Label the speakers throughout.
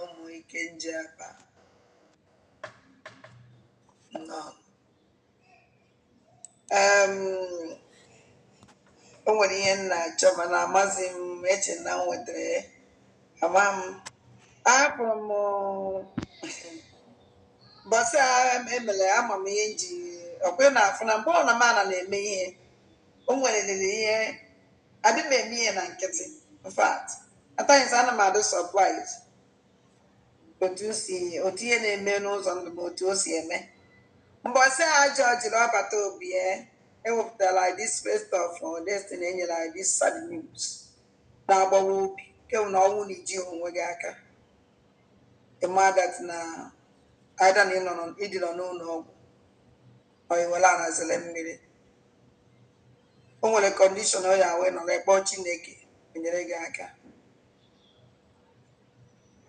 Speaker 1: ụmụ ike nje akpa o nwere ihe m na-achọ mana amaghị m eche na m nwetara ya ama m ahapụrụ mbọsị emere ama m ihe m ji ọkwa ị na-afụ na mgbe ọ na m ana na-eme ihe o nwerịrị ihe adị m eme ihe na nkịtị in fact at times ana m adị surprised otu o si otu ihe na-eme n'ụzọ ndụ m otu o si eme mbọsị a jọji na ọbata obie ewepụtara anyị this first of our destiny enyere anyị this sad news na-agbawa obi kemgbe na ọnwụ na iji onwe gị aka ịma that na ada na ịnọ nọ- ịdịnọ n'ụlọ ọgwụ onye nwere ala zere mmiri o nwere condition ọ ya wee nọrọ kpọọ chineke enyere gị aka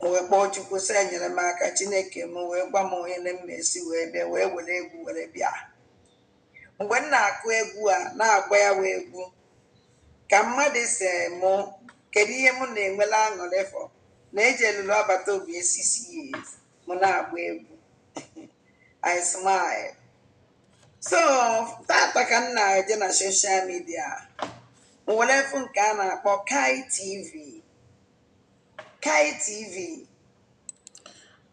Speaker 1: m wee kpọọ chukwu sị enyere m aka chineke m wee gwa m onye na mma esi wee bịa wee were egwu were bịa mgbe m na-akụ egwu a na-agba ya wee egwu ka mmadụ sị mụ kedu ihe m na-enwela aṅụrị for na eji elulu abata obi esisi ya ezi mụ na-agba egwu I smile so taata ka m na-eje na social media m were fụ nke a na-akpọ Kai TV Kai TV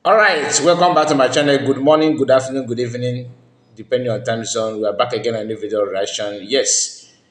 Speaker 1: All right, welcome back to my channel. Good morning, good afternoon, good evening, depending on time zone. We are back again on a new video reaction. Yes,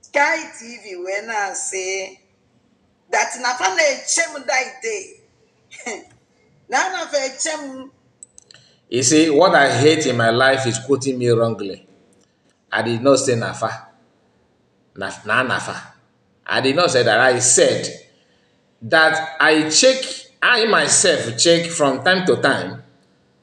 Speaker 1: Sky TV wee na-asị that na fa na-eche m that day na a na-fa eche m You see, what I hate in my life is quoting me wrongly. I did not say Nafa. Na, na Nafa. I did not say that. I said that I check, I myself check from time to time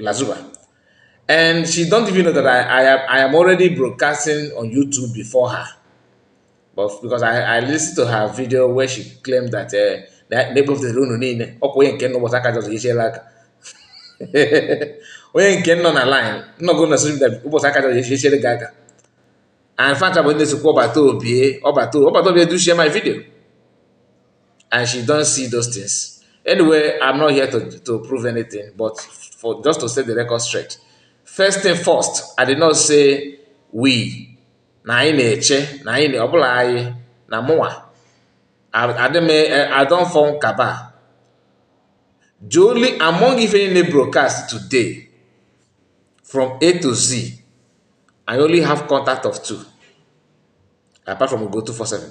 Speaker 1: Lazuba. And she don't even know that I, I, am, I am already broadcasting on YouTube before her. But because I, I listened to her video where she claimed that uh, that neighbor of the room niile ọkwa onye nke nọ bọta aka jọzọ echiela aka onye nke nọ na line nnọgo na social media ụbọchị aka jọzọ echiele gị aka and fanta bụ ndị sokwa ọbata obie ọbata ọbata obie they share my video and she don't see those things. Anyway, I'm not here to, to prove anything, but for just to set the record straight. First thing first, I did not say we. Na anyị na-eche, na anyị na ọbụla anyị na mụnwa. I don't form kaba. Jolly among if any broadcast today from A to Z, I only have contact of two, apart from go to four seven.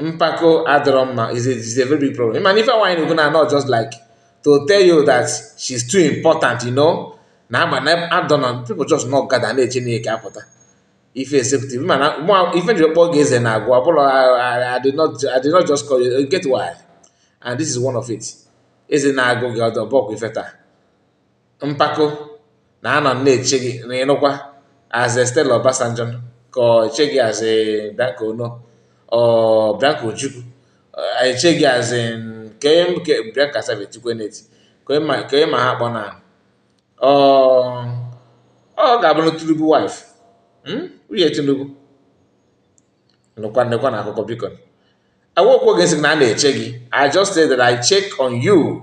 Speaker 1: mpako adịrọ mma is a is a very big problem mana ife nwaanyị na-ekwu na not just like to tell you that she's too important you know na ama na adọna people just not gather na-eche na eke apụta ife executive mana ife m jiri kpọọ gị eze na agwa ọbụla I did not I did not just call you get why and this is one of it eze na-agụ gị ọdọ bọkwa ife taa mpako na anọ m na-eche gị na ịnụkwa as in Stella Obasanjo ka ọ eche gị as in Bianca Onoh or Bianca Ojukwu eh, eche gị as in ka onye m- ka- Bianca Savage tikwe n'eti ka onye ma- ka onye ma ha kpọ na ọ ọ ga-abụ na Tinubu wife Hmm? nwunye Tinubu nụkwa nekwanụ akụkọ biko awokwo gị sị na a na-eche gị I just say that I check on you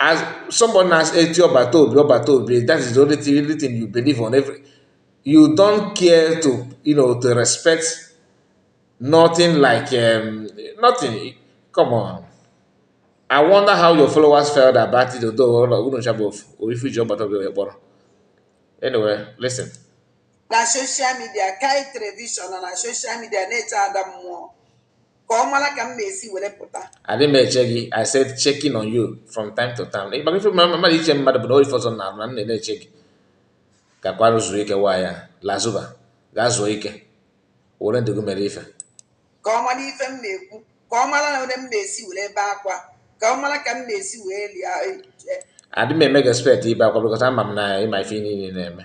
Speaker 1: As someone has eti ọbata obi ọbata obi, that is the only thing, only thing you believe on every. You don't care to you know to respect nothing like um, nothing. Come on. I wonder how your followers felt about it, although unu chabụ ofu, or if you jump out of your kpọrọ. Anyway, listen. na social media kai television na social media na-eche ada mmụọ ka ọ mara ka m na-esi were pụta adị m eche gị i said checking on you from time to time ị gbara ife mma mmadụ iche mmadụ bụ na ọ ife ọzọ na-arụ na m na-eche gị gakwarụ zuo ike waa ya lazuba gaa zuo ike were ndụ gị mere ife ka ọ mara ife m na-ekwu ka ọ mara na onye m na-esi were ebe akwa ka ọ mara ka m na-esi wee lie adị m eme gị expect ibe akwa because ama m na ị ma ife niile na-eme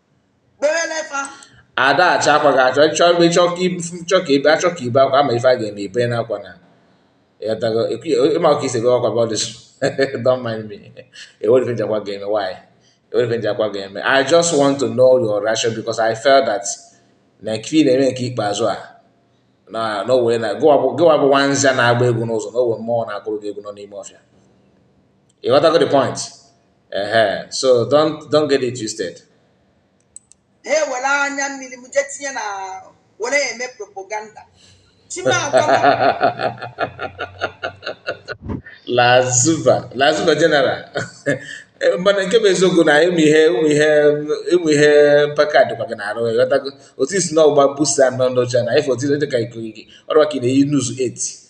Speaker 1: ada achọ akwa gị achọ ịchọ ebe ịchọ ka ibu chọ ka ebe achọ ka ibe akwa ama ife a ga-eme ibe na akwa na ị ghọtago ị ma ka isi gị ọkwa bọdịs don't mind me ewere ife njakwa ga-eme why ewere ife njakwa ga-eme i just want to know your reaction because i felt that na nke ị na-eme nke ikpeazụ a na n'owere na gịwa bụ nwa nza na-agba egwu n'ụzọ na o nwe mmụọ na-agụrụ gị egwu nọ n'ime ọfịa ị ghọtago the point Uh-huh. So don't don't get it twisted. Hey, well, I'm na were eme propaganda. Lazuba, Lazuba General. mana nke bụ eziokwu na ịmụ ihe ịmụ ihe ịmụ ihe mpaka dịkwa gị n'arụ ị ghọtago otu isi na ọgba busa nọ n'oche na ife otu dị ka ikirigi ọrụ ka ị na-eyi nuzu 8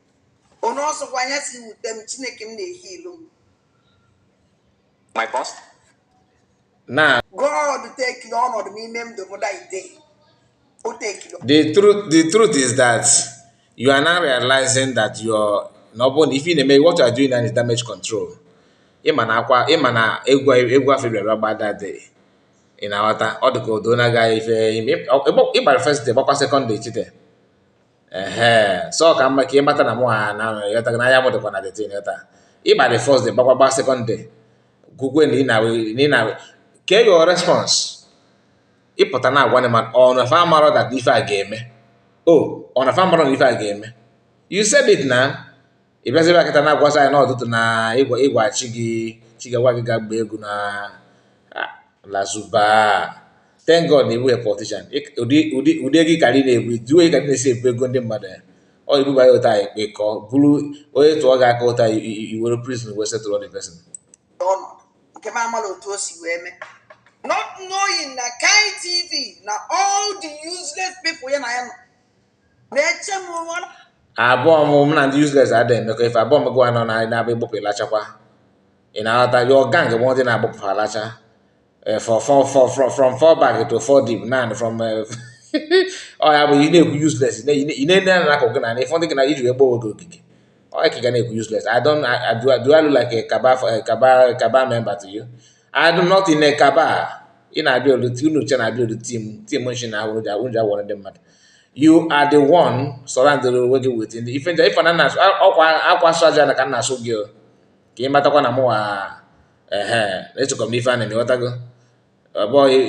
Speaker 1: Onye ọsọkwa anya si wute m Chineke m na-ehi ilu m. My boss. Na. God tekiri ọnọdụ n'ime m ndụ m da ide. O tekiri. The truth the truth is that you are now realizing that your na ọ bụrụ na ife ị na-eme what you are doing now is damage control. Ị ma na akwa ị ma na egwu egwu afụ ị bịara gba that day. Ị na-aghọta ọ dị ka odo na-agaghị ife ị gbara first day gbakwa second day chite. ehe so ka mma ka ị mata na mụ ha na yọta na anya m dịkwa na the thing yọta ị gba the first day gbakwa gba second day gụgwe na ị na ke your response ị pụta na-agwa m na ọ na fa amarọ that ife a ga-eme o ọ na fa amarọ na ife a ga-eme you said it na ị bịazi ebe a kịta na-agwazi anyị n'ọtụtụ na ị gwa ị gwa chi gị chi gị gwa gị ga gbaa egwu na ah, lazuba thank god na ị bụghị politician Ịk- ụdị ụdị ụdị ego ị karị na-ebu duo ị karị na-esi ebu ego ndị mmadụ ya ọ ibuba ya ụta anyị kpe ka ọ bụrụ onye tụọ gị aka ụta i- i- i were prison wee settle the person ọnọdụ nke m amala otu o si wee mee not knowing na kai tv na all the useless people ya na ya nọ abụọ m mụ na ndị useless ada emekọ ife abụọ m gụwa nọ na anyị na-abụ ị gbụpụ ị lachakwa ị na-aghọta your gang bụ ndị na-agbụpụ alacha eh, for four for from from four back to four deep nan from eh, ọ ya bụ ị na-ekwu useless ị na-enye na akụ gị na na ịfọdụ gị na iji wee gbawa oge ogige ọ ya ka ị ga na-ekwu useless I don't I, I do, I do I look like a cabal a cabal cabal member to you I do not in a kaba ị na-abịa oluti unu uche na-abịa olu tim tim nshi na awụrụ ja unja wọrọ ndị mmadụ you are the one surrounded onwe gị with ndị ife nja ifana na ọkwa akwa asụ aja na ka nna asụ gị ka ị matakwa na mụwa ehe echekwa m ife a na-eme ghọtago ọbụghị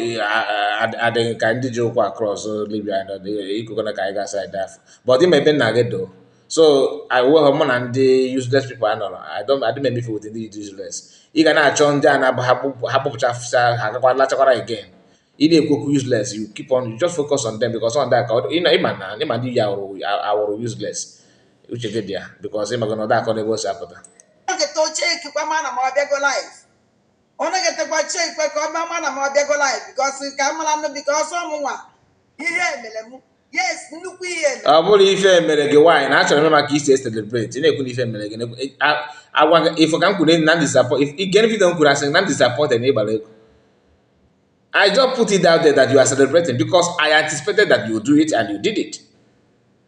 Speaker 1: adịghị ka ndị ji ụkwụ across Libya ikokona ka anyị ga-asa ede afọ but ime ebe nna gị doo so I will have money na ndị useless people I know. I don't I don't make me feel with ndị useless. Ị ga na-achọ ndị a na-abụ ha kpụpụcha afụsa ha gakwa lachakwara again. Ị na-ekwu okwu useless you keep on you just focus on them because on that ka ịma na ịma ndị ya awụrụ useless uche gị dị ya because ịmago na ọ da akọ n'ebe o si apụta. Oge tochie ekikwa ma na m abịago live. ọ naghị etekwa chie ikpe ka ọ bịa ma na m abịago live because ka m mara nụ because ọ mụnwa ihe emere m yes nnukwu ihe emere ọ bụrọ ife mere gị nwaanyị na achọrọ m ịma ka i si celebrate ị na-ekwu na ife mere gị na-ekwu e, a- agwa gị ife ka m kwuru na disappoint ige video m kwuru asị na m disappointed na ị gbara egwu I just put it out there that you are celebrating because I anticipated that you do it and you did it.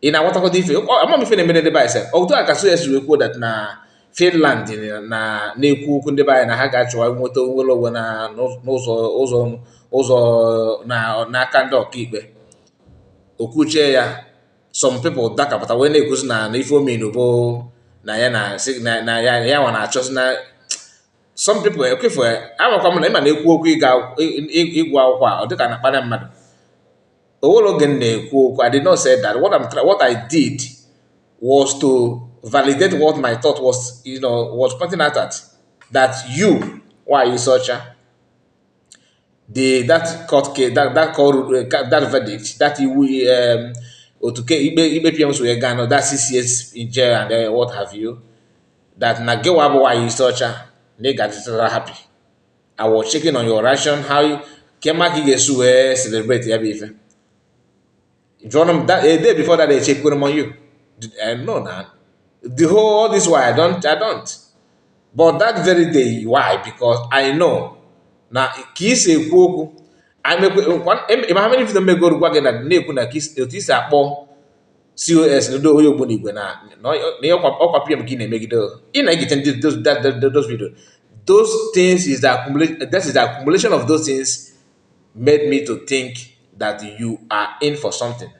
Speaker 1: Ị na-agwatakọta ife ama m ife na-emere ndị be anyị sef otu a ka so esi wee kwuo that na Finland na na-ekwu okwu ndị be anyị na ha ga-achọwa nweta nnwere onwe na n'ụzọ ụzọ ụzọ na n'aka ndị ọkaikpe okwuchie ya some people dakapụta wee na-ekwuzi na na ife ọ mean bụ na ya na na ya ya nwa na-achọzi na some people ekwefu amakwa m na ịma na-ekwu okwu ịga ịgụ akwụkwọ a ọ dịka na akparị mmadụ o nwere oge m na-ekwu okwu I did not say that what, I'm, what I did was to validate what my thought was you know was pointing out at that you nwaanyị isi ọcha the that court case that that court uh, that verdict that he will um, otuke ikpe ikpe pm si wee gaa no that six years in jail and uh, what have you that na gịwa bụ nwaanyị isi ọcha na ị ga-adịtara happy I was checking on your reaction how ka m ma ka ị ga-esi wee celebrate ya bụ ife jụọrọ m a day before that echeckiri m on you I know na the whole all this while I don't I don't but that very day why because I know na ka ị si ekwu okwu ịma ha mere video megoro gwa gị na na-ekwu na otu isi akpọ cos ndị onye ogbunigwe na na ọ- na ihe ọkwa ọkwa pm ka ị na-emegide o. ị na-egite ndị those that- that- that- those video those things is the accumulation that is the accumulation of those things made me to think that you are in for something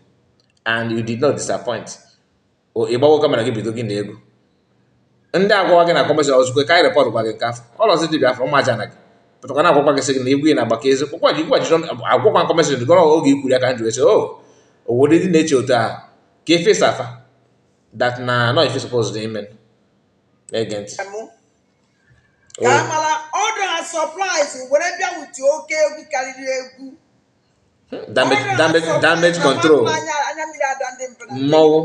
Speaker 1: and you did not disappoint o ị gbawo camera gị bido gị na egwu ndị agwawa gị na kọmishọn ozugbo ka anyị repọt gwa gị nke afọ ọlọzi dibịa afọ ụmụ aja na gị pụtakwa na agwakwa gị sị gị na igwe na agbaka ezi kpọkwa ji gwajiri agwakwa kọmishọn gọrọ oge ikwuru ya ka m ji wee sị o oh, obodo ndị na-eche otu ahụ ka efesa afa dat na nọ ife supposed ime na-ege ntị ka oh. amala ọdụ ha sọpraịz were bịa wuti oke egwu karịrị egwu damage damage damage control mmanwụ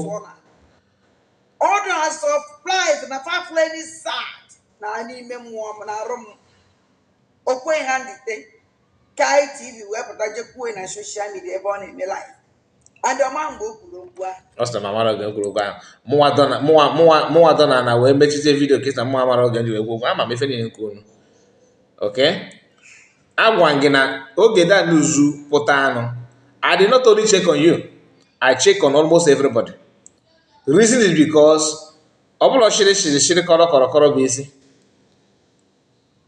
Speaker 1: Ọ dị na surprise na fafleni sad na n'ime mmụọ m na arụ m okwe ha ndite ka ITV wee pụta je kwuo na soshal midia ebe ọ na-eme live and ọ ma mgbe o kwuru okwu ahụ ọ sị na m amara oge o kwuru okwu ahụ mụnwa dọ na- mụnwa mụnwa mụnwa dọ na na wee mechizie vidio kịta mụnwa mara oge ndị wee kwuo okwu ama m ife niile nke unu okay agwa gị na oge that news pụta nụ I did not only check on you I check on almost everybody reason is because ọ bụla shiri shiri shiri kọrọ kọrọ kọrọ bụ isi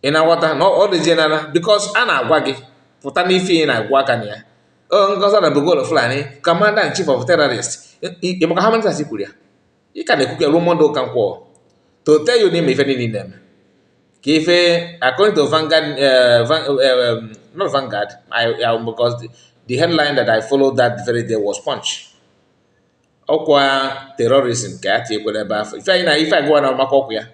Speaker 1: ị na-aghọta na ọ dị general because a na-agwa gị pụta n'ife ị na-agwa aka na ya o ngozi na bogolo Fulani commander in chief of terrorist ị makwa how many times i kwuru ya ị ka na-ekwu ka ruo mọnde ụka nkwọ to tell you n'ime ife niile na-eme ka ife according to Vanguard eh, Van- eh, um, not Vanguard I, I, because the, the headline that I followed that very day was Punch ọkwa terrorism ka ya tinyekwere ebe afụ ife anyị na ife agụwa na maka ọkwa ya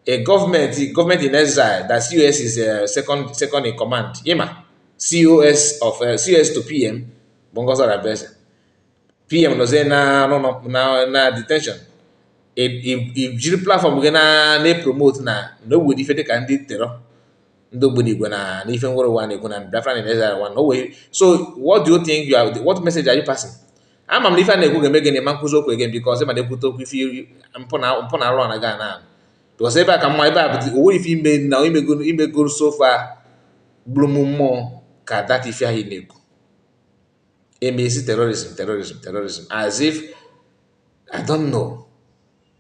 Speaker 1: a government government in exile that COS is uh, second second in command ịma COS of uh, COS to PM bụ Ngozi Orabueze PM nọzie na n'ụlọ na na detention i- i- i jiri platfọm gị na na-epromote na na o nwere ife dịka ndị terọ ndị ogbunigwe na na ife nwere ụwa na-ekwu na Biafra na Nigeria one o wee so what do you think you are what message are you passing ama m na ife a na-ekwu ga-eme gịnị ma nkụzi okwu again because ịma na-ekwute okwu ife iri- mpụ na mpụ na arụ ana ga na because ebe a ka mma ebe a bụ o nwere ife ime na imego imego so far gburu m mmụọ ka that ife anyị na-ekwu emezi terrorism terrorism terrorism as if I don't know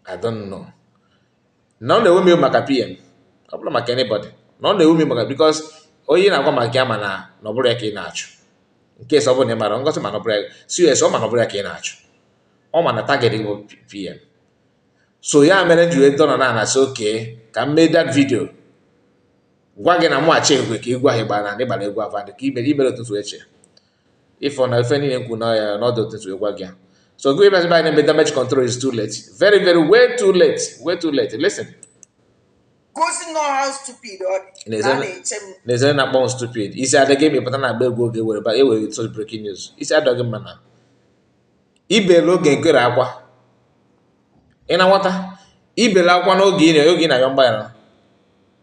Speaker 1: I don't know na ọ na-ewe m maka PM ọ bụrọ maka anybody na ọ na-ewe m maka because onye na-agwa maka ya ma na na ọ bụrọ ya ka ị na-achụ in case ọ bụrụ na ị marọ Ngozi ma na ọ bụrọ ya COS ọ ma na ọ bụrọ ya ka ị na-achụ ọ ma na target bụ PM so ya mere m ji wee dọrọ na a na-asị okay ka m mee that video gwa gị na mụ achị egwe ka egwu ahụ ịgba na ndị gbara egwu ava dị ka iberibe ụtụtụ eche ịfọ na ife niile nkwu na ya n'ọdụ ụtụtụ egwa gị so gụ imezi banyere mgbe damage control is too late very very way too late way too late listen gosi nọ how stupid ọ dị na a na-eche m na-ezere na akpọnwụ stupid isi adịghị ebe pụta na agba egwu oge were ba ewere such breaking news isi adịghị mma na ibelu oge nkere akwa ị na-anwata ibelu akwa n'oge ị na oge ị na-ayọ mgbaghara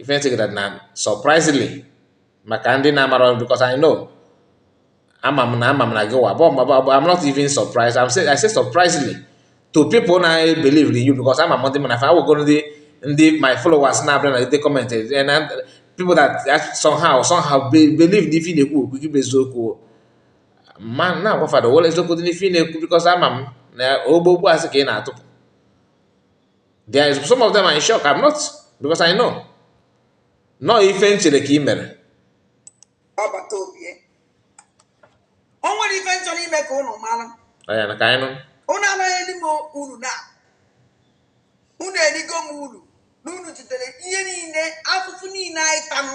Speaker 1: ife nsekọta na surprisingly maka ndị na-amarọ because I know ama m na ama m na gị wa but I'm not even surprised I'm say I say surprisingly to people na believe in you because ama m ndị m na fa awụgo ndị ndị my followers na-abịa na ndị comment and people that somehow somehow believe n'ife ị na-ekwu okwu gị bụ eziokwu m na-agwa fa na o nwerọ eziokwu dị n'ife ị na-ekwu because ama m na ọ bụ okwu asị ka ị na-atụpụ there is some of them are in shock i'm not because i know na ọ ife m chere ka ị mere agbata obi ya. o nwere ife m chọrọ ime ka ụnụ mara ọya na ka anyị nụ ụnụ anaghị eri m uru na ụnụ erigo m uru na ụnụ jidere ihe niile afụfụ niile anyị tanụ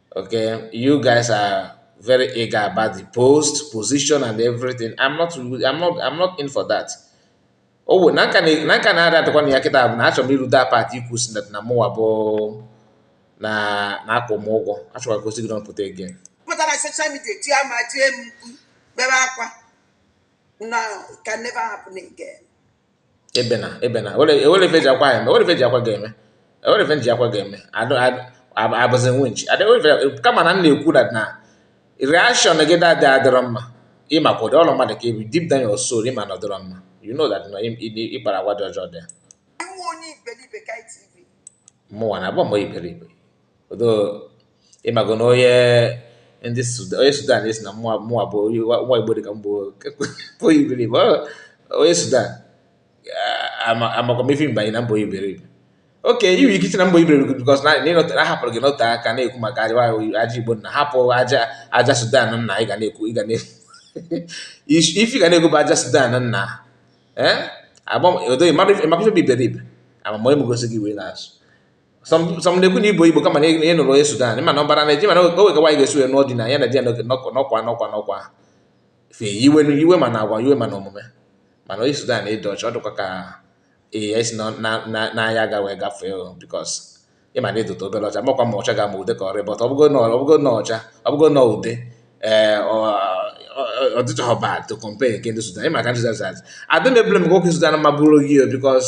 Speaker 1: Okay, you guys are very eager about the post, position, and everything. I'm not, I'm not, I'm not in for that. Oh, na nka na ada adịkwa na ya kịta bụ na achọrọ m iru that part i kwu sị na mụwa bụ na a na-akwụ m ụgwọ achọrọ ka o si gị n'ọnụ pụta again. Pụta na social media tie ma tie m mkpu bebe akwa na can never happen again. ebena ebena enwerọ ife e ji akwa eme enwerọ ife e ji akwa ga-eme enwerọ ife e ji akwa ga-eme abụzi winch kama na m na-ekwu na na reaction gị that day adịrọ mma ịma ka ụdị ọrụ mmadụ ka ebi deep down your soul ịma na ọ dịrọ mma you know that na ịkpara agwa dị ọjọọ dị ya mụnwa na abụ m iberibe ọdọ ị mago na onye ndị Sudan onye Sudan asị na mụwa mụwa bụ onye nwa nwa Igbo dị ka m bụ onye iberibe ọ onye Sudan amakwa m ife mba anyị na m bụ onye iberibe okay i nwere ike iche na m bụ iberibe because na ịnọta na ahapụrụ gị n'ote aka na-ekwu maka aja aja Igbo na hapụ aja aja Sudan nna ị ga na-ekwu ị ga na ife ị ga na-ekwu bụ aja Sudan nna ee agba odo ịmakwa ife bụ iberibe amama onye m gosi gị wee na-asụ so m na-ekwu na ị bụ igbo kama na ị nụrụ onye sudan mana ọ bụrụ nigeria mana o nwerọ ka nwaanyị ga-esi wee nụọ di na ya na di ya n'ọkwa n'ọkwa n'ọkwa fe iwe iwe mana agwa iwe mana omume mana onye sudan ịdị ọcha ọ dịkwa ka ee ya isi n'anya aga wee gafee because ịma na ịdụta obere ọcha makwa ma ọcha ga ama ude ka ọrịa but ọbụgo na ọbụgo na ọcha ọbụgo na ude ee ọ dịchaghị bad to compare nke ndị sudan ịma ka ndị sudan adị m ebule m nwoke sudan ma bụrụ gị because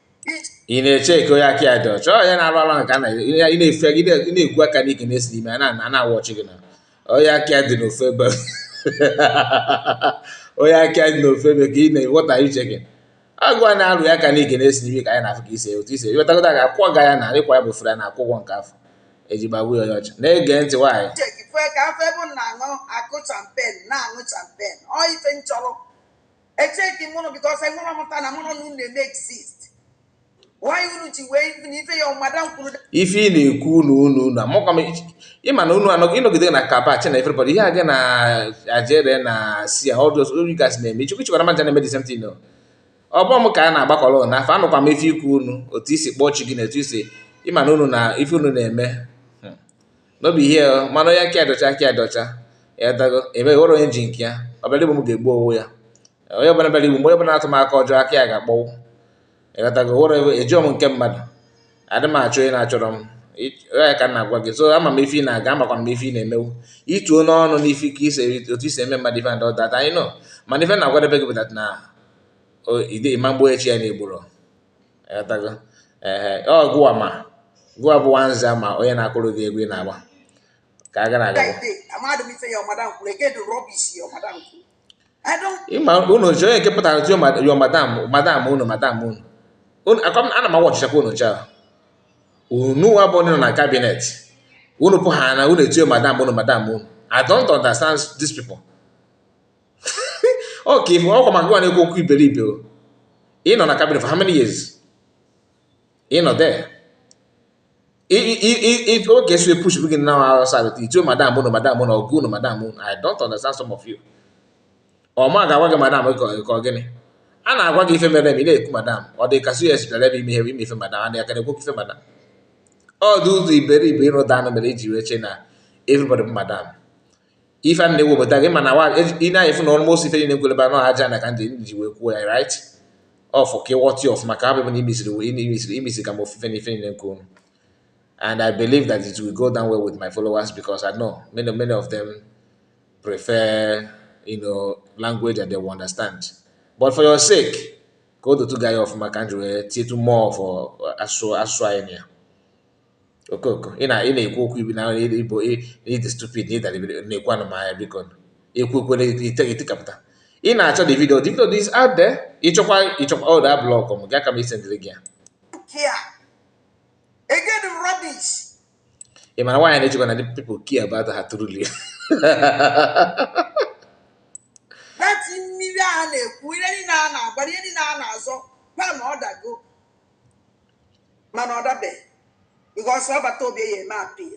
Speaker 1: ị na-eche eke onye aka ya dị ọcha onye na-arụ ala nke na ị na-efe gị na-egwu aka n'ike na-esi n'ime a na-awụ ọchị gị na onye aka dị n'ofe ebe onye aka dị n'ofe ebe ka ị na-eweta uche gị agụ a na-arụ ya aka n'ike na-esi n'ime ka anyị na-afụ ka isi otu isi ewetagodo ga akwụkwọ ga ya na ịkwa ya bụ fere na akwụkwọ nke afọ eji gbagbu ya onye ọcha na-ege ntị nwaanyị ka afọ ebe na-aṅụ akụ champagne na-aṅụ champagne ọ ife nchọrọ echeki m unu because enwere ọmụta na mụrụ na unu na-eme exist why unu ji wee even ife ya ọmada m kwuru ife ị na-ekwu unu unu na mụkwa m ịma na unu anọghị ịnọgide na kabach na everybody ihe a gị na ajere na si ya ọdụs ori gas na-eme chukwu chikwara maja na-eme the same thing no ọ bụ m ka a na-agbakọrọ unu afa anụkwa m ife i kwu unu otu isi kpọọ chi gị na otu isi ịma na unu na ife unu na-eme no be here oh. mana onye aka dị ọcha aka dị ọcha ịghọtago ebe ghọrọ onye ji nke ya ọbịara igbu m ga-egbu onwe ya onye ọbụla bịara igbu m mgbe ọbụla atụ m aka ọjọọ aka ya ga-akpọnwụ ịghọtago ghọrọ ejirọ m nke mmadụ adị m achọ onye na-achọrọ m ya ka m na-agwa gị so ama m ife ị na-aga amakwa m ife ị na-emewu ituo m ọnụ n'ife ka ise otu isi eme mmadụ ife and all that anyị nọ mana ife m na-agwadebe gị bụ that na ịma ụbọchị a na-egboro ịghọtago ee ọ gụwa ma gụwa bụ nwanza ma onye na-akụrụ gị egwu ị na-agba ka a gara aga ịma unu ji onye nke pụtara tio yo madam madam unu madam unu ana m awatchichakwa unu chaa unu nwa bụ onye nọ na cabinet unu pụ ha na unu etio madam unu madam unu I don't understand these people. ọ ka ihu ọkwa maka gịnwa na-ekwu okwu iberibe o ị nọ na cabinet for how many years ị nọ there oge so epush gị na awụsa gị ituo madam unu madam unu oga unu madam unu i don't understand some of you ọ m ga-agwa gị madam ka ọ gịnị a na-agwa gị ife mere m ị na-ekwu madam ọ dị ka cs bịara ebe ime ihe ime ife madam a na-aka na-ekwu ife madam ọ dị ụzọ iberibe ịrụda anụ mere iji wee che na everybody bụ madam ife a na-ewepụta gị mana ị na-afụ na almost ife niile nkwelebe anọ aja na ka m ji wee kwuo ya right ọfụ ka ịghọta ya ọfụma ka ha bụbụ na imesiri imesiri imesiri ka m ofufe na ife niile nke unu and I believe that it will go down well with my followers because I know many many of them prefer you know language that they will understand but for your sake ka o dotu gị anya ọfụma ka m ji wee tietu more for asụsụ asụsụ anyị na ya okooko ị na-ekwu okwu iberibe ị dị stupid na ị dị iberibe na-ekwu anụmahịa biko ekwu ekwere itikapụta ị na-achọ the video the video is out there ịchọkwa ịchọkwa ọ da block m gaa ka m sendịrị gị ya ị mara nwaanyị na-echekwa na ndị people care about ha truly mmiri a na-ekwu ihe niile a na-agba ihe niile a na-azọ gwa na ọ dago mana ọ dabeghị because Ọbatobie ga-eme appeal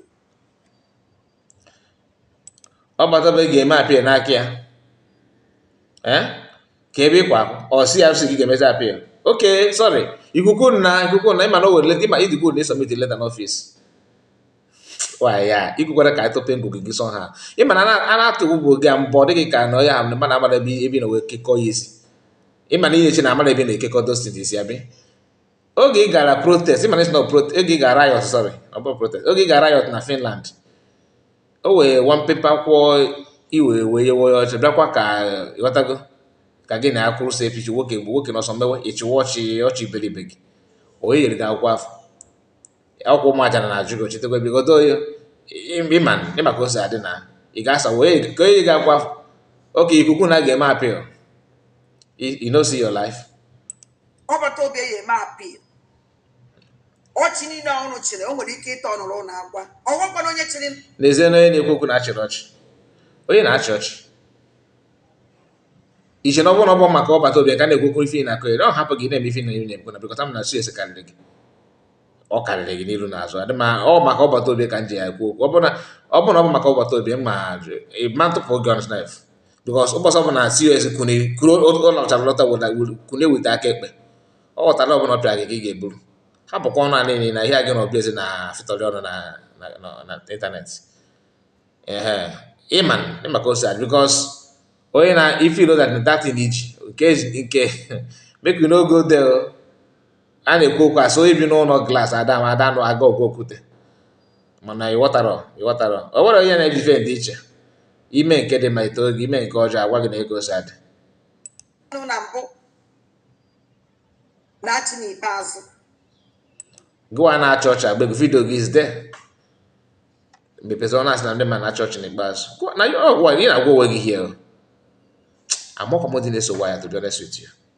Speaker 1: Ọbatobie ga-eme appeal n'aka ya ka ebe ịkwa ọ si ya sị gị ga-emezi appeal okay sorry ikuku na ikuku na ịma na o were leta ịma idigbo na ị submit leta n'office ya ikwukwara ka ịtọpe ngụgụ gị sọ ha ịma na a na-atụ bụ oge a mbọ dịghị ka na ọya ha mana amara ebe ebe na wee kekọọ ya isi ịma na ị ya-eche na amara ebe na-ekekọ those things isi abi oge ị gara protest ịma na ị sị na oge ị gara riot sorry ọ bụ protest oge ị gara riot na Finland o wee one paper kwụọ iwe wee yewe ya ọchị bịakwa ka ịghọtago ka gị na akwụrụ so epichi nwoke bụ nwoke nọ somewhere ị chịwa ọchị ọchị iberibe gị onye nyere gị akwụkwọ afụ ọkwụ ụmụ aja na ajụ gị ochetekwa ebigodo oyi ịma ịma ka o si adị na ị ga-asa wee ka onye ga-akwa oke ikuku na ga-eme appeal you no see your life Ọbatobie ga-eme appeal ọchị niile unu chịrị o nwere ike ịta ọnụrụ na agwa ọgwakwana onye chịrị n'ezie na onye na-ekwu okwu na-achịrị ọchị onye na-achị ọchị iche na ọ bụrụ na ọ bụ maka Ọbatobie ka na-ekwu okwu ife na akụ ọ hapụ gị na-eme ife na ị na-ekwu na bikọta m na su ese karịrị gị ọ karịrị gị n'iru n'azụ adị mma ọ maka Ọbatobie ka m ji ya ekwu okwu ọ bụrụ na ọ bụrụ na ọ bụ maka Ọbatobie ma ma ntụpụ gị ọnụ sef because ụbọchị ọ bụla cos kwune kwuru ụlọchara lọta kwune weta aka ekpe ọ ghọtara ọbụla ọpịa gị ka ị ga-eburu ha bụkwa ọnụ anị na ihe a gị na ọbịa eze na fịtọrị ọnụ na n'internet ehe ịma ịma ka o si adị because onye na ife ilo that that thing iji nke nke make you no go there a na-ekwu okwu a sị onye bi n'ụlọ glass ada ma ada nụ aga ọgụ okwute mana ịghọtara ịghọtara o nwere onye na-eji ife dị iche ime nke dị mma ite oge ime nke ọjọọ agwa gị na ka o si adị na mbụ na-achị n'ikpeazụ gịwa na-achị ọchị agba egwu video gị izde mepezi ọ na-asị na ndị ma na-achị ọchị n'ikpeazụ na gị na-agwa onwe gị hie amakwa m ndị na-eso waya to be honest with you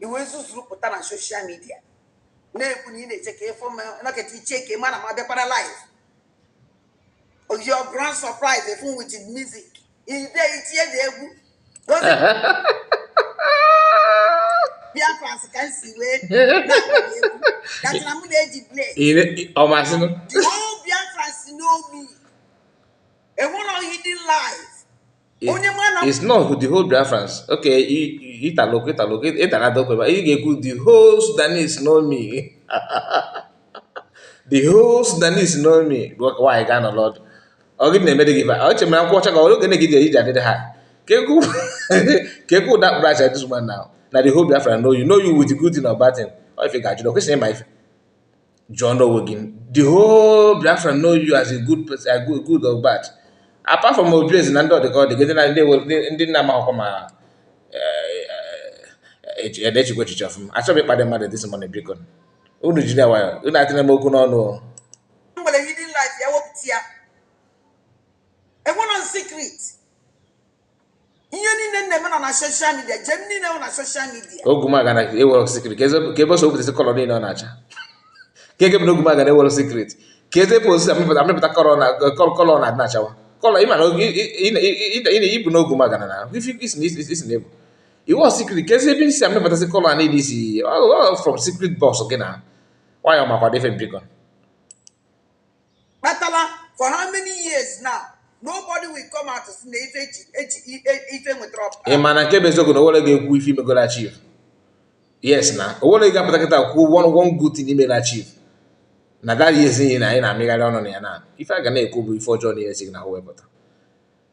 Speaker 1: i wee zuzuru pụta na social media na-ekwu na ị na-eche ka ịfụ naketa iche ka ị mara ma bịakwara live your grand surprise efu with music ide itinye na egwu Biafrans ka nsi wee na-akpọrọ na mụ na-eji blade the whole Biafrans know me enwere ohi dị live onye ma na it's not the whole Biafrans okay italo italo ịtara adokwe ma ị ga-ekwu the whole Sudanese know me the whole Sudanese know me nwaanyị gaa nọrọ ọdụ ọ gị na-emere gị ọ che mere akwụkwọ ọcha ka oge na-egi ji iji adịrị ha ka ekwu ụda kpụrụ aja this woman now na the whole Biafra know you know you with good thing or bad thing ọ ife ga-ajụ na o kwesịrị ịma ife jụọnụ onwe gị the whole Biafra know you as a good person a good good or bad apart from Obieze na ndị ọdịka ọdịga ndị na ndị ewe- ndị- ndị na-amaghọkwa ma na-echekwa echiche ọfụma achọghị ịkparị mmadụ this morning biko unu jide nwayọ unu etinyena m okwu n'ọnụ o. m nwere hidden life ya wepụta ya enwere secret ihe niile m na-eme nọ na social media ije m niile nọ na social media ogumagana ewere secret case ebe o si wepụtasị colour niile ọ na-acha ka ege m na ogumagana ewere secret case ebe o si amịpụta colour na colour na-adị na-achawa colour ị ma na ị bụ na ogumagana na isi na ebu iwọ secret case ebe i si amịpụtasị colour a niile i si from secret box gị na nwayọ makwa dị ife m biko kpatara for how many years now nobody will come out to na ife eji eji ife nwetara ọpụta ị ma na nke bụ eziokwu na owere ga-ekwu ife i megoro achieve yes na owere ga-apụta kịta kwuo one one good thing i mere achieve na that years na anyị na-amịgharị ọnụ na ya na ife a ga na-ekwu bụ ife ọjọọ na-esi na ha wepụta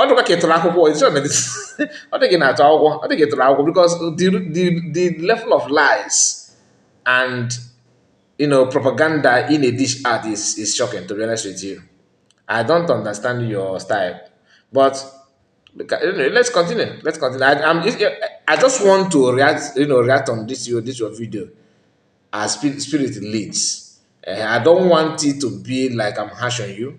Speaker 1: ọ dịkwa ka ịtụrụ akwụkwọ ọ dịghị na-atụ akwụkwọ ọ dịghị ịtụrụ akwụkwọ because the, the, the level of lies and you know propaganda ị na-edish out is, is shocking to be honest with you I don't understand your style but let's continue let's continue I, I'm, I just want to react you know react on this your this your video as spirit leads uh, I don't want it to be like I'm harsh on you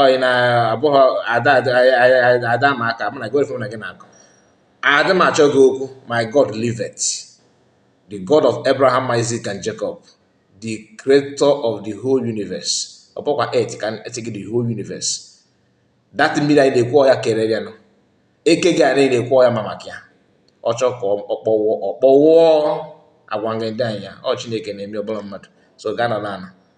Speaker 1: ọyị na abụghị ada ada ma aka mụ na gị na gị na-akọ adị m achọ gị okwu my god liveth the god of abraham isaac and jacob the creator of the whole universe ọ bụkwa et ka eti gị the whole universe that mmiri anyị na-ekwu ọ ya kere ya nọ eke gị anyị na-ekwu ọ ya ma maka ya ọ chọọ ka ọ kpọnwụọ ọ kpọnwụọ agwa ngị ndị anyị ya ọ chineke na-eme ọ bụrọ mmadụ so gaa nọrọ ala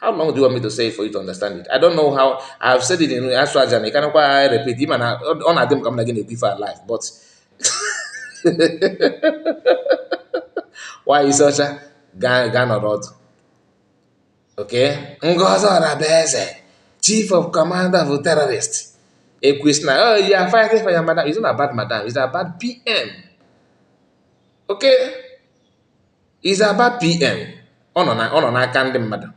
Speaker 1: how long do you want me to say it for you to understand it i don't know how i have said it in asụ aja na ịkanakwa I repeat ị ma na ọ na-adị m ka m na gị na-ekwu ife alive but why isi ọcha gaa nọrọ ọdụ okay ngozi orabueze chief of commander of terrorist ekwis na oh you are fighting for your madam it's not about madam it's about pm okay is about PM ọ nọ na ọ nọ n'aka ndị mmadụ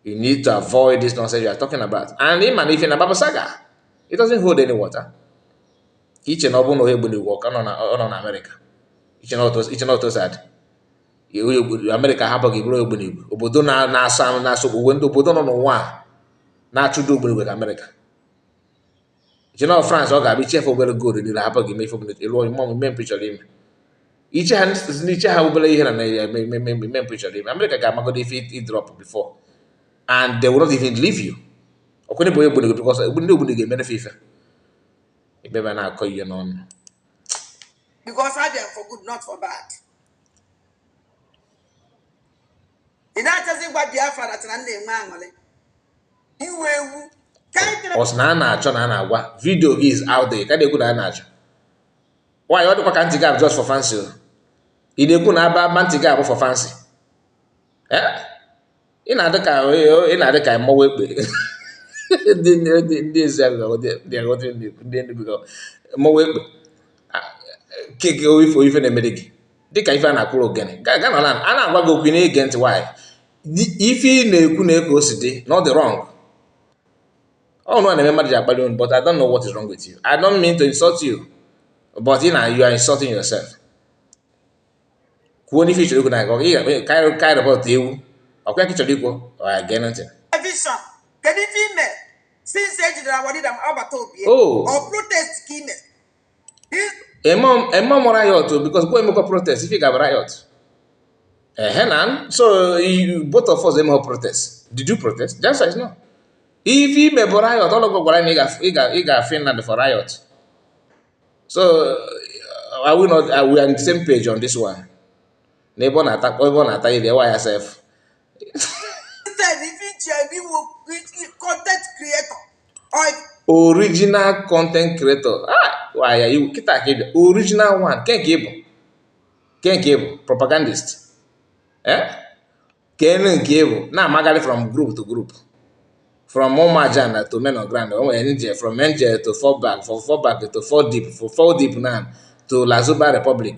Speaker 1: you need to avoid this nonsense you are talking about and ị ma na ife ị na-ababụsaga it doesn't hold any water ka iche na ọ bụrụ na onye ogbunigwe ka ọ nọ na Amerịka iche na otu si adị Amerịka hapụ gị bụrụ ogbunigwe obodo na-asọ anụ na-asọ o nwedị obodo nọ n'ụwa a na-achụdo ogbunigwe ka Amerịka iche na France ọ ga-abịa ichefe obere goolu niile hapụ gị mee ife ọbụla ị chọrọ ime ọmụ ime mpụ ị chọrọ ime iche ha n'iche ha obere ihe na Naịjirịa eme eme eme eme mpụ ị chọrọ ime Amerịka ga-amagodo ife ị drop before and they will not even leave you ọkwụnye bụ onye gburu gị because ndị ogburu ga-emere fe ife ebe ebe a na-akọ ihe n'ọnụ because I them for good, not for bad. Ị na-achọzi ịgwa Biafra na tịna nna enwe aṅụrị ị wụ ewu ọ sị na a na-achọ na a na-agwa video gị is out there ka na-ekwu na a na-achọ nwaanyị ọ dịkwa ka ntị gị abụ just for fancy o ị na-ekwu na aba aba ntị gị abụ for fancy eh? ị na-adị ka ị na-adị ka mmọnwụ ekpe ndị ndị ezi ndị aghọta ndị Enugu mmọnwụ ekpe keke ife ife na-emere gị dịka ife a na-akwụrụ ogene a na-agwa gị okwu ị na-ege ntị nwaanyị ife ị na-ekwu na eke o si dị na ọ dị wrong unu na-eme mmadụ ji akpali unu but I don't know what is wrong with you I don't mean to insult you but you na you are insulting yourself kwuo n'ife ịchọrọ ikwu na ọ ga-ekpe karị report ewu ọkwa ya ka ịchọrọ ikwu ọ ya gee ntị vision kedu ife ime since ejidere our leader m agbata obi o protest ka ime emehọ m riot because gị emekwa protest if ị gaba riot ehe na so both of us emekwa protest did you protest the answer is no if ị mebụ riot olee onye gwara na ị ga Finland for riot so uh, are we not are we on the same page on this one n'ebe ọ na-ata ebe ọ na-ata iri ewa ya sef original content creator ah waya ị wụ kịtaa ka ịbịa original one nke nke ịbụ nke nke ịbụ propagandist eh kedụ nke ịbụ na-amagharị from group to group from Umajana to men on ground NJ from NJ to fall back from fall back to fall deep from fall deep now to Lazuba Republic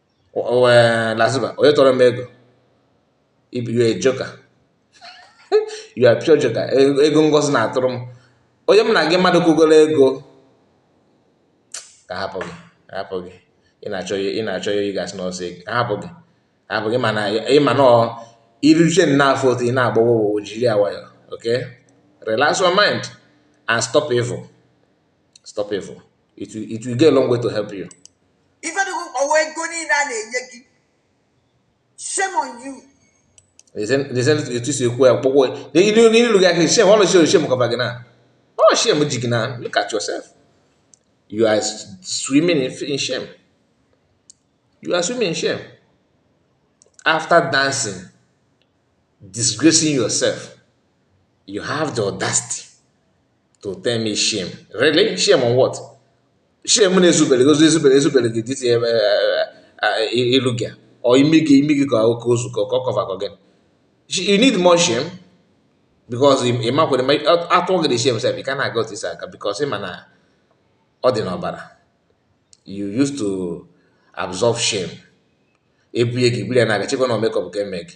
Speaker 1: wee Lazuba onye tọrọ m ego ị bụ a joker you are pure joker e-, ego Ngozi na-atụrụ m onye m na gị mmadụ kwugoro ego ga-ahapụ gị hapụ gị ị na-achọ ya ị na-achọ ya ị ga-asị na ọ sị hapụ gị hapụ gị mana ịma na iruche n'afọ otu ị na-agbawa ụwa jiri ya nwayọ okay relax your mind and stop evil stop evil it will, it will go a long way to help you ife dị gị ọwa ego niile a na-enye gị shame on you etu si ekwu ya kpọkpọ n'ilu gị ahịa shame ọlụ shame shame cover gị na ọ shame ji gị na look at yourself you are swimming in, in shame you are swimming in shame after dancing disgracing yourself you have the audacity to tell me shame. Really? Shame on what? Shame na ezubere gozi ezubere ezubere gị this ilu gị a or imi gị imi gị ka oke ozu ka ọ cover gị. You need more shame because ị makwere ma atụọ gị the shame sef ị ka na-aga otu ị si aga because ị ma na ọ dị n'ọbara. You used to absorb shame. Ebunye gị buru ya na-aga chekwa na ọ makeup ka eme gị.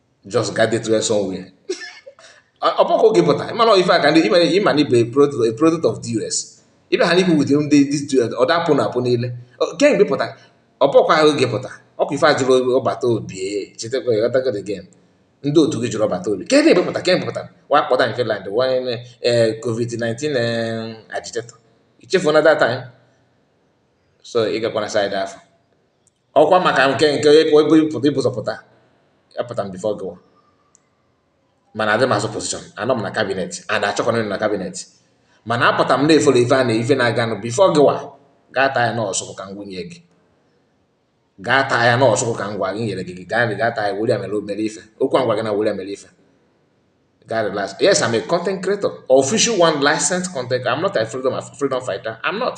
Speaker 1: just get it well somewhere ọ bụkwa oge pụta ị ma na ife aka ndị imere ị ma na ị bụ a product of DOS ibe ha n'ikwu within ndị DOS ọ dapụ na apụ niile kemgbe pụta ọ bụkwa oge pụta ọkwa ife ajụrụ ọbata obi chetakwa ịghọtago the game ndị otu gị jụrụ ọbata obi kedụ ebe pụta kemgbe pụta wa kpọta nke land wanye covid-19 agitator i chefu na that time so ị gakwana side afọ ọkwa maka nke nke ị bu ụzọ pụta apụta m before gịwa mana adị m azụ position anọ m na cabinet and achọkwana na cabinet mana apụta m na-efollow ife a na ife na-aganụ before gịwa gaa taa ya n'ọsụkụ ka m gwunye gị gaa taa ya n'ọsụkụ ka m gwa gị nyere gị gị gaa gaa taa ya were ya mere o mere ife okwu a ngwa gị na were ya mere ife gaa relax yes I'm a content creator official one licensed content I'm not a freedom freedom fighter I'm not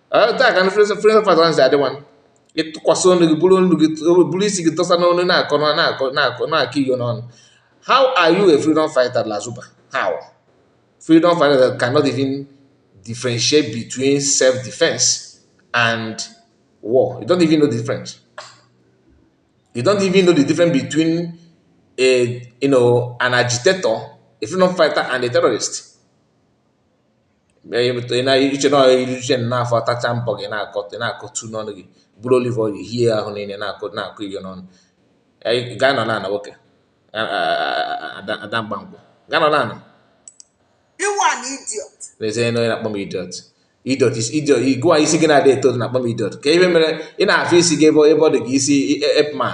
Speaker 1: taa ka ndị freedom freedom fighter nsi adị nwanne ịtụkwasị ọnụ gị buru ọnụ gị buru isi gị tọsa n'ọnụ na-akọ na- na-akọ na-akọ na-akọ inyo n'ọnụ how are you a freedom fighter lazuba how freedom fighter that cannot even differentiate between self-defense and war you don't even know the difference you don't even know the difference between a you know an agitator a freedom fighter and a terrorist i che na iruche n'afọ atacha mbọ gị na-akọta na-akọtu n'ọnụ gị buru olive oil hie ahụ niile na-akọ na-akọ inyo n'ọnụ gaa nọ n'ala nwoke ada mgbamgbọ gaa nọ n'ala n'ezie onye na-akpọ m idiot idiot is idiot gịwa isi gị na-adị eto na-akpọ m idiot kee ife mere ị na-afụ isi gị ebe ọ dị gị isi apeman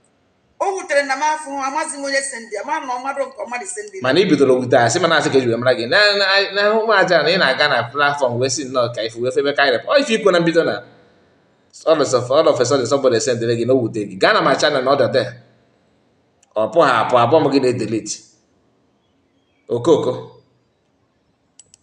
Speaker 1: o wutere na m afọ hụ amazi m onye sendi ama na ọ mmadụ nke ọ mmadụ sendi mana ị bidoro wute asị mana asị ka eji wee mara gị na- na- na ụmụ aja na ị na-aga na platform wee si nnọọ ka ife wee febe ka irep ọ ife i kwu na mbido na all of all of a sudden somebody sendere gị na o wute gị gaa na my channel na ọdọde ọ bụ ha abụ abụ m gị na-edelete okoko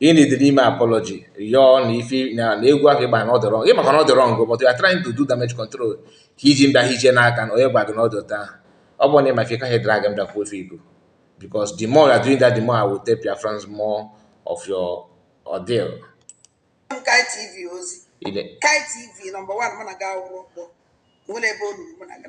Speaker 1: ị na-ede n'ime apology rịọ na ife na egwu ahụ ị gba na ọ dị wrong ị makwa na ọ dị wrong but you are trying to do damage control ka i ji media hije n'aka na onye gwa gị na ọ dị otu ahụ ọ bụrụ na ị ma ife kaghị drag m bịa kwuo ife ị bụ because the more you are doing that the more I will tape your friends more of your ordeal. Kai TV ozi Kai TV number one mụ na gị awụrụ ọkpọ nwere ebe o ruru mụ na gị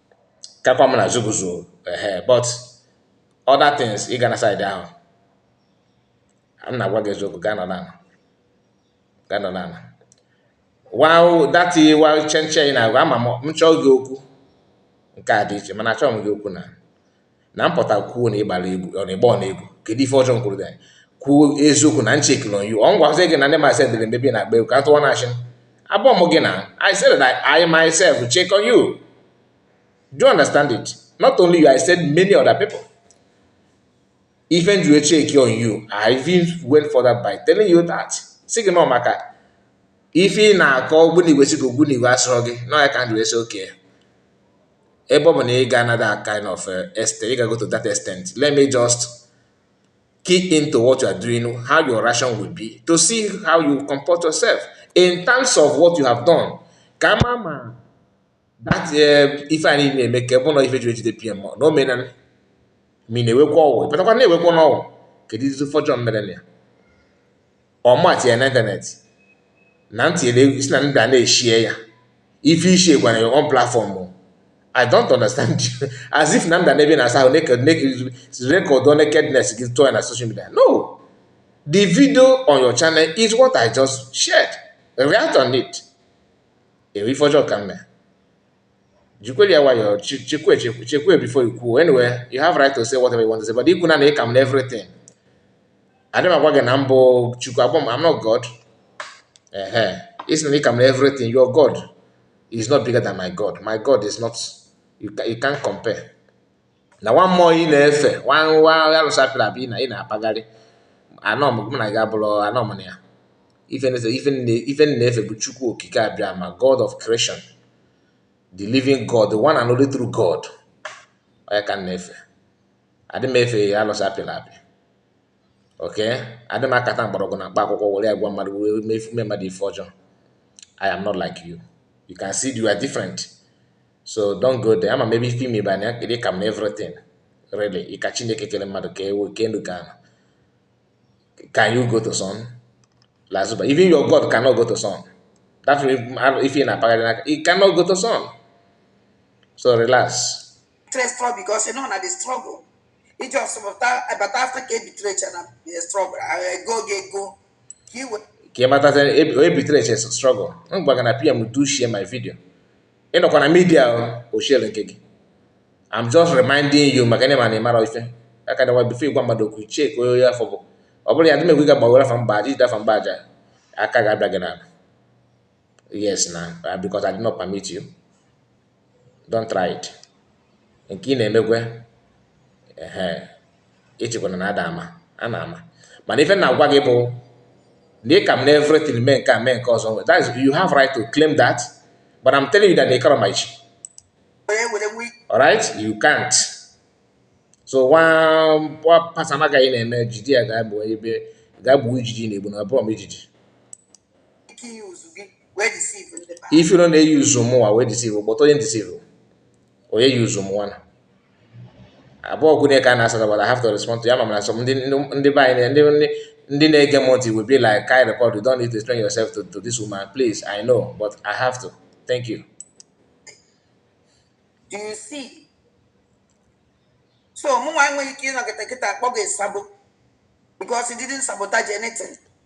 Speaker 1: kakwa m na zuguzo ehe but other things ị ga na side ahụ m na-agwa gị eziokwu gaa nọdụ ana gaa nọdụ ana wow that wow chenchen na agwa ama m chọọ gị okwu nke a dị iche mana achọghị m gị okwu na na m pụta kwuo na ị gbara egwu ọ na-agba ọ na-egwu kedu ife ọjọọ m kwuru gị kwuo eziokwu na m checkịrị on you ọ m gwazie gị na ndị masị dịrị mbebi na-agba egwu ka tụwa na-achị abụọ m gị na I said that I myself check on you do you understand it not only you I said many other people even you check on you I even went further by telling you that si gị nọ maka ife ị na-akọ ogbunigwe si gị ogbunigwe asụrụ gị nọ ya ka ndụ esi oke ebe ọ bụ na ị ga na that kind of uh, extent ị ga go to that extent let me just key into what you are doing how your reaction will be to see how you comport yourself in terms of what you have done ka m mara that uh, ife anyị na-eme ka ebe ụlọ ife jiri ejide pm na o menan ma ị na-ewekwa ọgwụ ị pụtakwa na-ewekwa n'ọgwụ keduzi ife ọjọọ m mere na ya ọ m tinye na internet na ntị si na ndị a na-eshare ya ife i share gaa your own platform I don't understand you as if na m dị n'ebe ị na-asa ahụ recordụọ nakedness gị tụọ ya na social media no the video on your channel is what I just shared react on it ọ bụ ife ọjọọ ka m mere jikwere ya nwayọọ chekwe chekwe before you kwuo anyway you have right to say whatever you want to say but ikwu na na ị ka m na everything adị m agwa gị na m bụ chukwu abụrọ m I'm not God ehe ị sị na ị ka m na everything your God is not bigger than my God my God is not you, can, you can't compare na nwa mmụọ ị na-efe nwa nwa alụsị a pịrị apị na ị na-apagharị anọ m gị na gị abụrọ anọ m na ya ife m na-efe ife nne- ife m na-efe bụ chukwu okike abiama god of creation the living god the one and only true god ọ ya ka m na-efe adị m efe alụsị a pịrị apị okay adị m akpata mgbọrọgwụ na mkpa akwụkwọ were ya gwọọ mmadụ were mee ife- mee mmadụ ife ọjọọ i am not like you you can see you are different so don't go there ama m ebe ife ime ibe anya kedu ka m na everything really ịka chineke kere mmadụ kee ewu kee elu kee ana can you go to sun lazuba even your god cannot go to sun that way if ị na-akpagharị n'aka you cannot go to sun so relax struggle because you know na the struggle iji ọsọpụta abata afta ka ebitere eche na struggle ego gị ego ka ị wee ka ị matazi ebitere eche struggle m gwa gị na pm do share my video ị nọkwa na media oshiere nke gị I'm just reminding you maka ndị ma na ịmara ife aka dawa before ịgwa mmadụ okwu check onye onye afụ bụ ọ bụrụ ya dị megwe ga gbawere afa m ba aja ijide afa m ba aja aka ga-abịa gị n'ala yes na because I did not permit you don't try it nke ị na-emekwe ehe ịchịkwana na ada ama a na-ama mana ife m na-agwa gị bụ na ị ka m na everything mee nke a mee nke ọzọ that is you have right to claim that but I'm telling you that ị karọ my chi alright you can't so nwa pasana agaghị na-eme jide ya ga-egbu ijiji na-egbu na broom ijiji if you don't use mụwa wee deceive kpọta onye deceive onye use mụwa na abụọ kwune ka a na-asata but I have to respond to ya ma mana sọ ndị be anyị ndị ndị na-ege m ntị will be like kai record you don't need to explain yourself to, to this woman please I know but I have to thank you do you see so mụnwa enweghị ike ịnọkịta kịta akpọ gị sabo because he didn't sabotage anything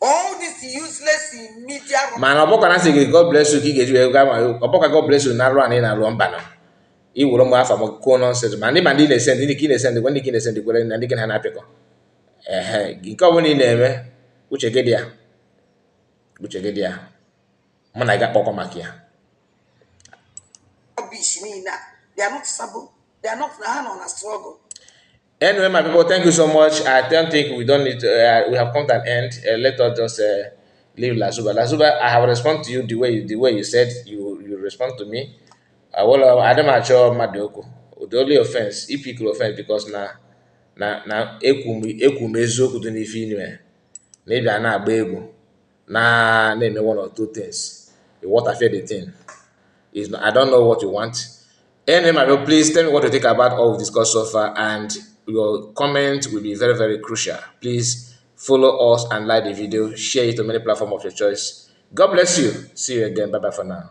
Speaker 1: all this useless media mana ọ bụkwa na sị gị god bless you ka ị ga-eji wee gaa ma ọ bụkwa god bless you na arụ a na ị na-arụ mba na iwere mgbe afọ m kwuo nonsense ma ndị ma ndị na-ese ndị ka ị na-ese ndị gwa ndị ka ị na-ese ndị kwere na ndị gị ha na-apịkọ ehe nke ọ bụla ị na-eme uche gị dị ya uche gị dị ya mụ na gị ga-akpọkọ maka ya rubbish niile a they are not sabo they are not na ha nọ na struggle Anyway, my people, thank you so much. I don't think we don't need to, uh, we have come to an end. Uh, let us just uh, leave Lazuba. Lazuba, I have responded to you the way you, the way you said you you respond to me. I will. Uh, I don't match your madoko. The only offense, if you could offend, because na na na ekwum ekwum eziokwu dị n'ife inwe na ịbịa na-agba egwu na na-eme one or two things you want affair the thing is I don't know what you want anyway my bro please tell me what you think about all we've discussed so far and your comment will be very very crucial please follow us and like the video share it to many platforms of your choice God bless you see you again bye bye for now